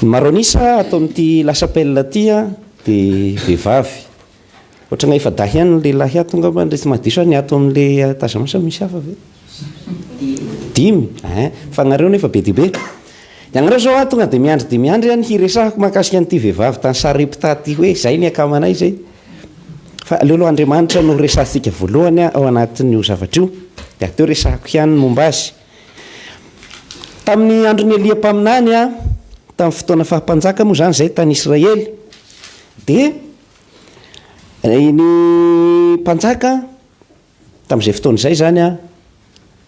Ny maro an'isa ato amin'ity La Chapelle ity dia vehivavy. Ohatran'ny efa dahy ihany ny lehilahy ato angamba, tsy mahadiso aho, ny ato amin'ilay tazana sa misy hafa ve? Dimy? Ein, fa nareo nefa be dia be. Ianareo izao aho tonga dia miandry dia miandry aho ny hiresahako mahakasika an'ity vehivavy tany Sarepta ity hoe izay ny akamanay izay. Fa aleo aloha Andriamanitra no resahantsika voalohany ao anatin'io zavatra io, dia avy teo resahako ihany ny momba azy. Tamin'ny andron'i Elia mpaminany, tamin'ny fotoana faha-mpanjaka moa izany izay tany Israely, dia ny mpanjaka tamin'izay fotoana izay izany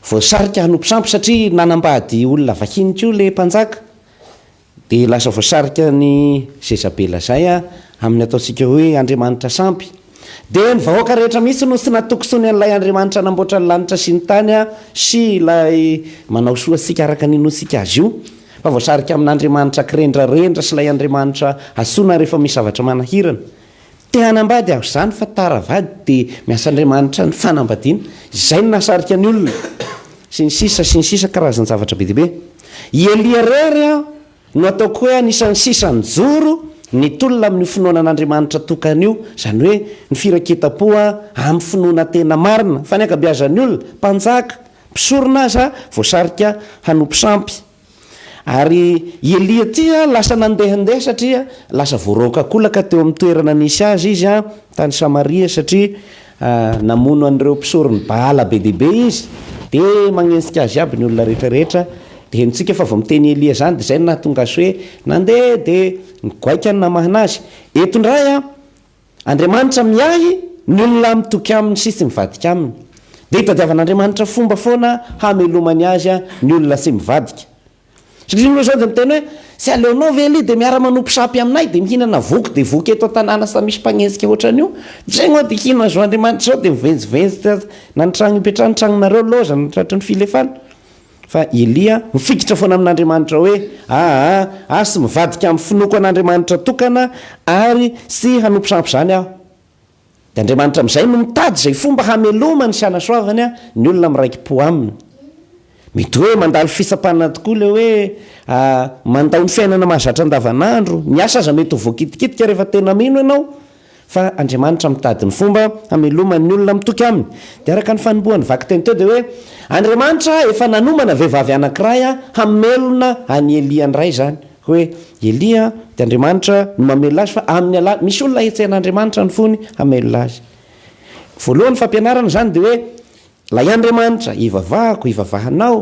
voasarika hanompo sampy satria nanambady olona vahiny koa ilay mpanjaka. Dia lasa voasarika ny Jezabela izay amin'ny ataontsika hoe andriamanitra sampy. Dia ny vahoaka rehetra mihitsy no tsy natokisoany an'ilay Andriamanitra namboatra ny lanitra sy ny tany sy ilay manao soa antsika araka ny inoantsika azy io, fa voasarika amin'andriamanitra kirendrarendra sy ilay andriamanitra antsoina rehefa misy zavatra manahirana. Te hanambady aho izany fa tara vady dia miasa Andriamanitra ny fanambadiana, izay no nahasarika ny olona, sy ny sisa sy ny sisa karazan-javatra be dia be. I Elia irery no ataoko hoe anisan'ny sisa nijoro nitolona amin'io finoana an'Andriamanitra tokana io, izany hoe ny firaiketam-po amin'ny finoana tena marina, fa ny ankabeazan'ny olona, mpanjaka, mpisorona aza voasarika hanompo sampy. Ary i Elia ity lasa nandehandeha satria lasa voaroakakolaka teo amin'ny toerana nisy azy izy tany Samaria satria namono an'ireo mpisoron'i Baala be dia be izy. Dia magnenjika azy iaby ny olona rehetra rehetra. Dia henontsika fa vao miteny i Elia izany dia izay no nahatonga azy hoe nandeha dia nigoaika ny namahana azy. Eto indray a! Andriamanitra miahy ny olona mitoky Aminy sy tsy mivadika Aminy. Dia itadiavan'Andriamanitra fomba foana hamelomany azy ny olona tsy mivadika. Satria ny olona izao dia miteny hoe, Tsy aleonao ve aloha dia miara-manompo sampy aminay dia mihinana voky dia voky eto an-tanàna samy misy mpanenjika ohatran'io? Izay angaha dia hino azy ho Andriamanitra izao dia mivenjivenjy na ny trano ipetrahany, ny tranonareo, loza na ny tratry ny filefana. Fa i Elia mifikitra foana amin'Andriamanitra hoe, Aa, asy mivadika amin'ny finoako an'Andriamanitra tokana ary sy hanompo sampy izany aho. Dia Andriamanitra amin'izay no mitady izay fomba hamelomany sy hanasoavany ny olona miraiki-po aminy. Mety hoe mandalo fitsapana tokoa ilay hoe mandao ny fiainana mahazatra andavanandro. Ny asa aza mety ho voakitikitika rehefa tena mino ianao. Fa Andriamanitra mitady ny fomba hamelomany ny olona mitoky Aminy. Dia araka ny fanombohan'ny vakiteny teo dia hoe, Andriamanitra efa nanomana vehivavy anankiray hamelona an'i Elia ndray izany. Hoe Elia dia Andriamanitra no mamelona azy fa amin'ny alala, misy olona hetsehan'Andriamanitra ny fony hamelona azy. Voalohany fampianarana izany dia hoe, Ilay Andriamanitra ivavahako, ivavahanao.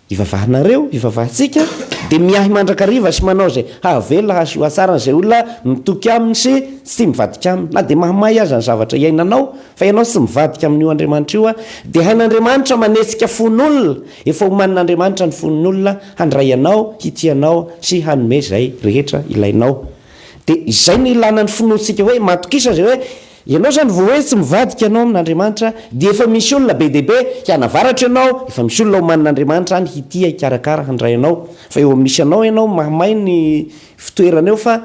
Ivavahanareo, ivavahantsika, dia miahy mandrakariva sy manao izay hahavelona, hahasoa tsara an'izay olona mitoky aminy sy tsy mivadika aminy. Na dia mahamay aza ny zavatra iainanao, fa ianao tsy mivadika amin'io Andriamanitra io, dia hain'Andriamanitra manetsika fon'olona, efa omanin'Andriamanitra ny fon'olona handray anao, hitia anao sy hanome izay rehetra ilainao. Dia izay no ilana ny finoantsika hoe matokisa izay hoe, Ianao izany vao hoe tsy mivadika ianao amin'Andriamanitra dia efa misy olona be dia be hianavaratra ianao, efa misy olona omanin'Andriamanitra any hitia, hikarakara, handray anao. Fa eo misy anao ianao mahamay ny fitoerana eo fa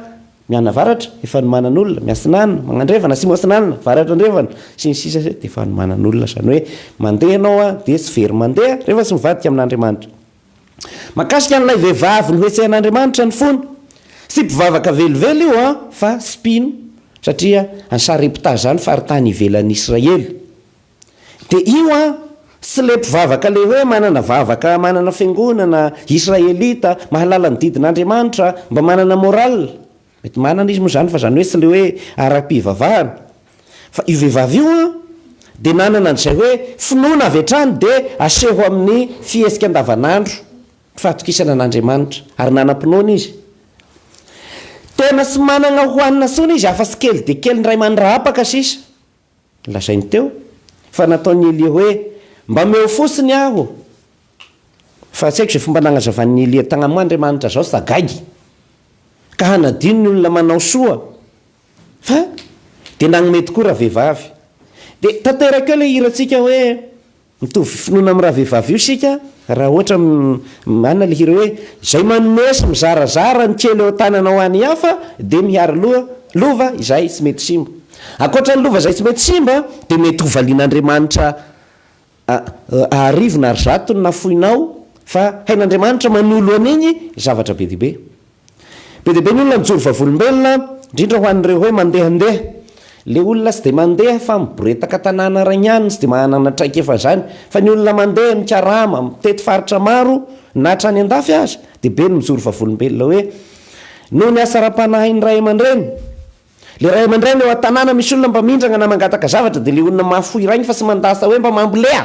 mianavaratra, efa anomanan'olona, miasinana, magnandrevana, asimo asinana, varatra andrevana, sy ny sisa Dia efa anomanan'olona izany hoe mandeha ianao dia tsy very mandeha rehefa tsy mivadika amin'Andriamanitra. Mahakasika an'ilay vehivavy nohetsehan'Andriamanitra ny fony, tsy mpivavaka velively io an, fa mpino, satria any Sarepta izany, faritany ivelan'i Israely. Dia io an, tsy ilay mpivavaka ilay hoe manana vavaka, manana fiangonana, Israelita, mahalala ny didin'Andriamanitra, mba manana morale, Mety manana izy moa izany fa izany hoe tsy ilay hoe ara-pivavahana. Fa io vehivavy io an, dia nanana an'izay hoe finoana avy hatrany dia aseho amin'ny fihetsika andavanandro ny fahatokisana an'Andriamanitra ary nanam-pinoana izy. Tena tsy manana hohanina intsony izy afa-tsy kely dia kely ny iray mandrahapaka sisa. Lazainy teo fa nataon'i Elia hoe, Mba omeo fotsiny aho! Fa tsy haiko izay fomba nagnazavan'i Elia tagna moa Andriamanitra zao fa gaigy ka hanadino ny olona manao soa fa dia nagnome tokoa ravehivavy. Dia tanteraka eo ilay hirantsika hoe Mitovy finoana amin'ny ravehivavy io isika raha ohatra manana ilay hira hoe, izay manome sy mizarazara ny kely ao an-tanana ho an'ny hafa dia mihary loha, lova izay tsy mety simba. Ankoatra ny lova izay tsy mety simba dia mety ho valian'Andriamanitra arivo na arizato ny nafoinao fa hain'Andriamanitra manolo an'iny zavatra be dia be. Be dia be ny olona mijoro vavolombelona, indrindra ho an'ireo hoe mandehandeha. Ilay olona tsy dia mandeha fa miboretaka tanàna rainy ihany, tsy dia manana traikefa izany. Fa ny olona mandeha, mikarama, mitety faritra maro, na hatrany an-dafy aza, dia be ny mijoro vavolombelona hoe noho ny asa ara-panahin'ny ray aman-dreny. Ilay ray aman-dreny eo an-tanàna misy olona mba mindrana na mangataka zavatra dia ilay olona mahafoy rainy fa tsy mandà sa hoe mba mamboleha.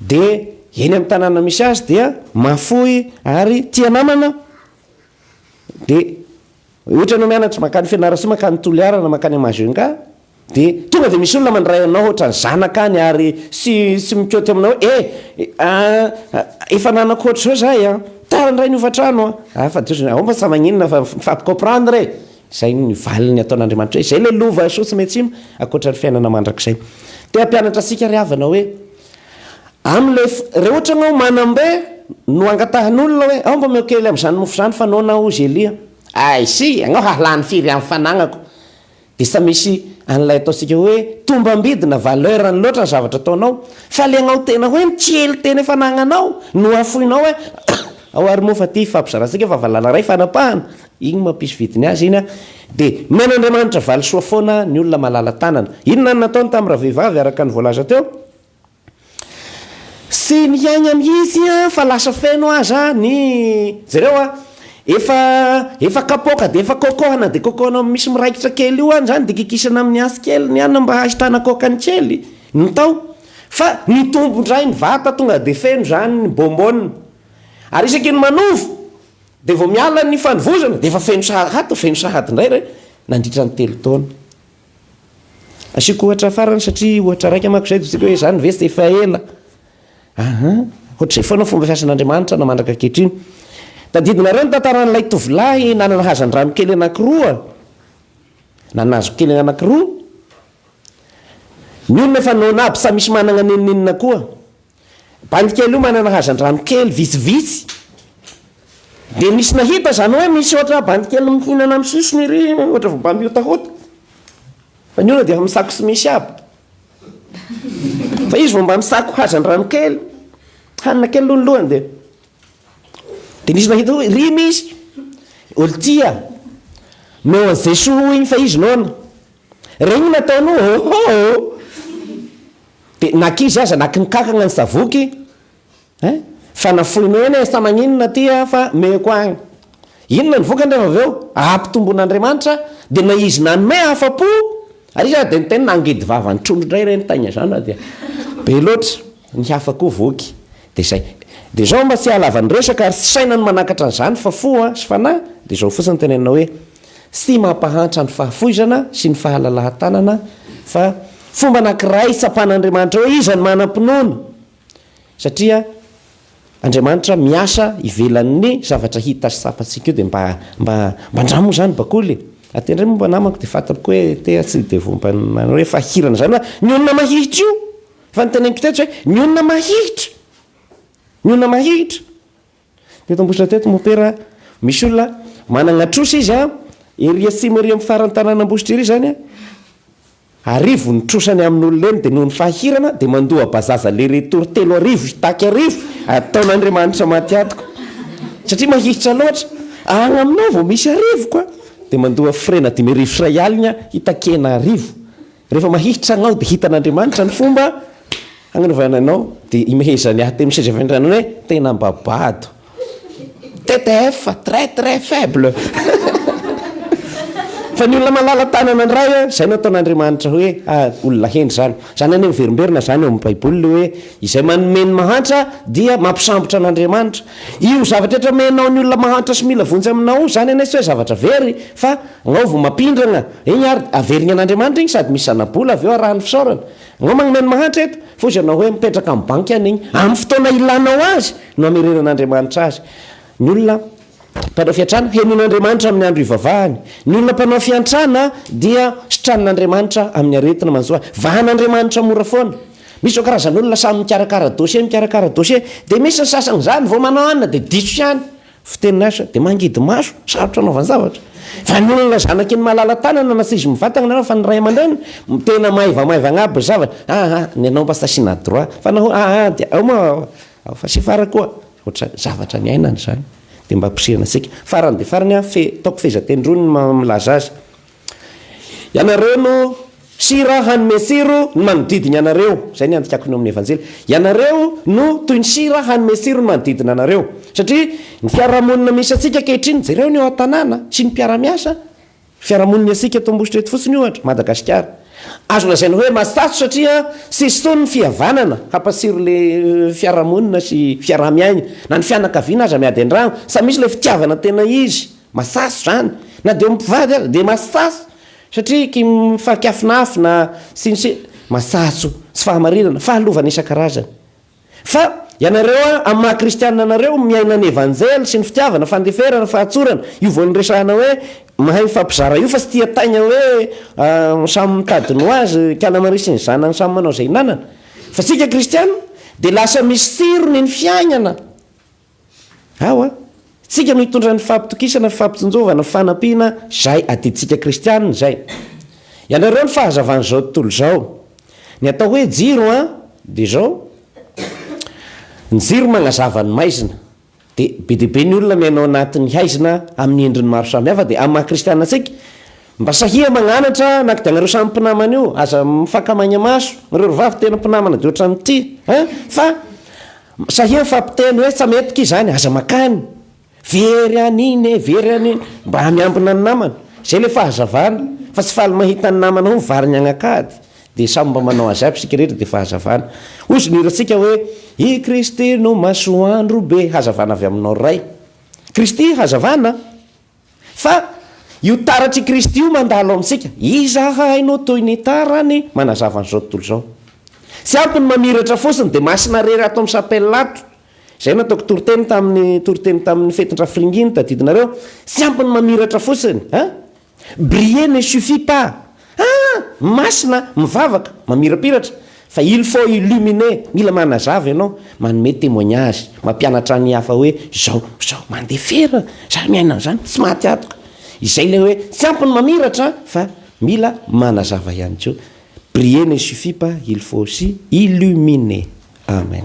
dia eny amin'ny tanàna misy azy dia mahafoy ary tia namana dia ohatra ianao mianatra mankany Fianarantsoa mankany Toliara na mankany Majunga dia tonga dia misy olona mandray anao ohatran'ny zanaka any ary sy sy mikaoty aminao hoe eh efa nanako ohatr'izao zah e, tara indray ny hofantrano an, ah fa tojo, ao fa maninona fa mifampicomprendre e. Izay no valiny ataon'Andriamanitra hoe, izay ilay lova soa tsy miantsimo, ankoatra ny fiainana mandrakizay. Te hampianatra antsika ry havana hoe, amin'ilay, raha ohatra ianao manam-be no angatahan'olona hoe, ao mba omeo kely amin'izany mofo izany fa noana aho, hozy Elia. Aisy! Ianao hahalany firy amin'ny fanagnako. Dia tsy misy an'ilay ataontsika hoe, tombam-bidy na valeur-ny loatra ny zavatra ataonao, fa ilay anao tena hoe ny kely tena efa anagnanao no hafoinao hoe, ao ary moa fa ity ifampizarantsika fa valala iray fanapahana. Iny mampisy vidiny azy iny a! Dia men'Andriamanitra valisoa foana ny olona malala tanana. Inona no nataony tamin'ny ravehivavy araka ny voalaza teo? Tsy niaina mihitsy fa lasa feno aza ny, jereo a, efa efa kapoaka dia efa kokohana dia kokohana amin'ny misy miraikitra kely io any izany dia kikisana amin'ny antsy kely ny anona mba hahitana kaokany kely ny tao fa nitombo indray ny vata tonga dia feno izany ny bonbonne ary isaky ny manova Dia vao miala ny fanovozana dia efa feno sahady ato, feno sahady indray re nandritra ny telo taona. Asiako ohatra farany satria ohatra raika manko izay dia tsy haiko hoe izany ve tsy dia efa ela. Aha, ohatr'izay foana ny fomba fiasan'Andriamanitra na mandraka ankehitriny. Tadidinareo ny tantaran'ilay tovolahy nanana hazandrano kely anankiroa, na nahazo kely anankiroa. Ny olona efa noana aby, tsy misy manana n'inon'inona koa. Bandy kely io manana hazandrano kely vitsivitsy dia misy nahita izany hoe misy ohatra bandy kely mihinana amin'ny sisiny ery ohatra vao mba mihotahota fa ny olona dia efa misako tsy misy aby fa izy vao mba misako hazandrano kely hanina kely aloha ny lohany dia dia nisy nahita hoe ry misy olon-tia meo an'i Jesoa hoy iny fa izy noana Regny ny ataony oh oh oh oh! Dia nakizy aza nakinkankagna ny savoky eh! Fa nafoinao ihany eh! Sa maninona aty ah fa meko agny! Inona ny vokany rehefa avy eo? Ampitombon'Andriamanitra dia na izy nanome afa-po ary izy ary dia niteny nangidy vava ny trondro indray ireny taigna izany fa dia be loatra ny hafa koa voky! Dia izay! Dia izao mba tsy hahalava ny resaka ary tsy saina ny manakatra an'izany fa fo ah sy fanahy dia izao fotsiny tenenina hoe sy mampahantra ny fahafoizana sy ny fahalalahan-tanana fa fomba anankiray hitsapan'Andriamanitra hoe iza no manam-pinoana satria Andriamanitra miasa ivelan'ny zavatra hita sy tsapantsika io dia mba mba mba andramo moa izany bakoly e! Raha te handray moa mba namako dia fantako hoe tea tsy dia vao mba manao hoe fahirana izany hoe ny olona mahihitra io! Efa noteneniko teto izay, ny olona mahihitra! Ny olona mahihitra! Teto Ambositra teto mopera a, misy olona managna trosa izy a, ery atsimo ery amin'ny faran'ny tanan'Ambositra ery izany a, arivo ny trosany amin'olona eny, dia noho ny fahirana dia mandoa bazaza aller retour telo arivo hitaky arivo ataon'Andriamanitra maty atoko, satria mahiitra loatra, agny aminao vao misy arivo ka, dia mandoa frais-na dimy arivo sy iray aligna hitakena arivo. Rehefa mahihitra anao dia hitan'Andriamanitra ny fomba hagnanovany anao dia imehezany ahy teny seza fiandrianana hoe tena mba bado TTF très très faible fa ny olona malala tanana indray a izay no ataon'Andriamanitra hoe ah, olona hendry zany zany anie miverimberina zany eo amin'ny baiboly hoe izay manome ny mahantra dia mampisambotra an'Andriamanitra io zavatra rehetra omenao ny olona mahantra sy mila vonjy aminao zany anie tsy hoe zavatra very fa Ngao vao mampindrana igny ary averigny an'Andriamanitra igny sady misy zana-bola avy eo arahan'ny fisaorana. Ngao magnome ny mahantra eto, fa hozy ianao hoe mipetraka amin'ny banky any igny, amin'ny fotoana ilanao azy no hamerenan'Andriamanitra azy. Ny olona mpanao fiantrana, henon'Andriamanitra amin'ny andro ivavahany. Ny olona mpanao fiantrana dia sitranin'Andriamanitra amin'ny aretina manjo azy. Vahan'Andriamanitra mora foana. Misy izao karazan'olona samy mikarakara dossier, mikarakara dossier, dia misy ny sasany izany vao manao anona dia diso ihany. Fiteny lasa dia mangidy maso, sarotra anaovany zavatra. Fa ny olona zanaky ny malala tanana na saizy mivatagna nareo fa ny ray aman-dreny tena maivamaiva agnaby ny zavatra, aa ny anao mba sasina à droit fa nahoa aa dia ao ma ao fa sefo ara koa ohatra zany, zavatra niainany zany dia mba ampirisihana antsika. Farany dia farany an, fe ataoko fehezanteny roa ny milaza azy. Ianareo no sira hanome tsiro ny manodidina anareo. Izay ny andikako ny ao amin'ny Evanjely. Ianareo no toy ny sira hanome tsiro ny manodidina anareo. Satria ny fiarahamonina misy antsika ankehitriny, jereo ny ao an-tanàna sy ny mpiara-miasa. Fiarahamonina antsika eto Ambositra eto fotsiny ohatra, Madagasikara. Azo lazaina hoe matsatso satria tsisy intsony ny fihavanana hampatsiro ilay fiarahamonina sy fiaraha-miaina. Na ny fianakaviana aza miady an-drano, samy misy ilay fitiavana tena izy. Masaso izany, na dia eo amin'ny mpivady aza dia masaso satria kim mifankafinafina sy ny sisa, masaso tsy fahamarinana, fahalovana isan-karazany. Fa ianareo an, amin'ny maha kristianina anareo, miaina ny evanjely sy ny fitiavana, fandeferana, fahatsorana, io vao niresahana hoe mahay mifampizara io fa tsy tia taigna hoe samy mitady ny ho azy, kiana maria sy ny zanany samy manao izay hinanana. Fa isika kristianina dia lasa misy tsirony ny fiaignana. Ao an! Tsika no hitondra ny fampitokisana, fampitsinjovana, fanampiana zay adintsika kristianina izay. Ianareo ny fahazavan'izao tontolo izao. Ny atao hoe jiro an! dia izao, ny jiro magnazava ny maizina. Dia be dia be ny olona miaina ao anatin'ny haizina amin'ny endriny maro samihafa, dia amin'ny maha kristianina antsika, Mba sahia magnanatra naka dia anareo samy mpinamana io aza mifaka maigna maso nareo ry vavy tena mpinamana de otrany ty a fa sahia mifampiteny hoe tsa mety ki zany aza makany very an'iny e very an'iny mba miambina ny namana zay le fahazavana fa tsy faly mahita ny namana ho mivarigny agnakady de samy mba manao azy aby isika rehetra de fahazavana hozy ny hirantsika hoe i Kristy no masoandro be hazavana avy aminao Ray Kristy hazavana Fa io taratr'i Kristy io mandalo amintsika. Iza hahay no toy ny tarany manazava an'izao tontolo izao. Tsy ampy ny mamiratra fotsiny dia masina rery ato amin'ny chapelle ato. Izay no ataoko toriteny tamin'ny toriteny tamin'ny fetin-drafiringinta, adidinareo. Tsy ampy ny mamiratra fotsiny, an! Briller ne suffit pas. Ah! Masina, mivavaka, mamirapiratra, fa il faut illuminer, mila manazava ianao, manome témoignage, mampianatra ny hafa hoe izao, izao, mandeha fera, za miaina an'izany, tsy maty atoka. Izay ilay hoe tsy ampy ny mamiratra fa mila manazava ihany koa. Prier ne suffit pas, il faut aussi illuminer. Amen.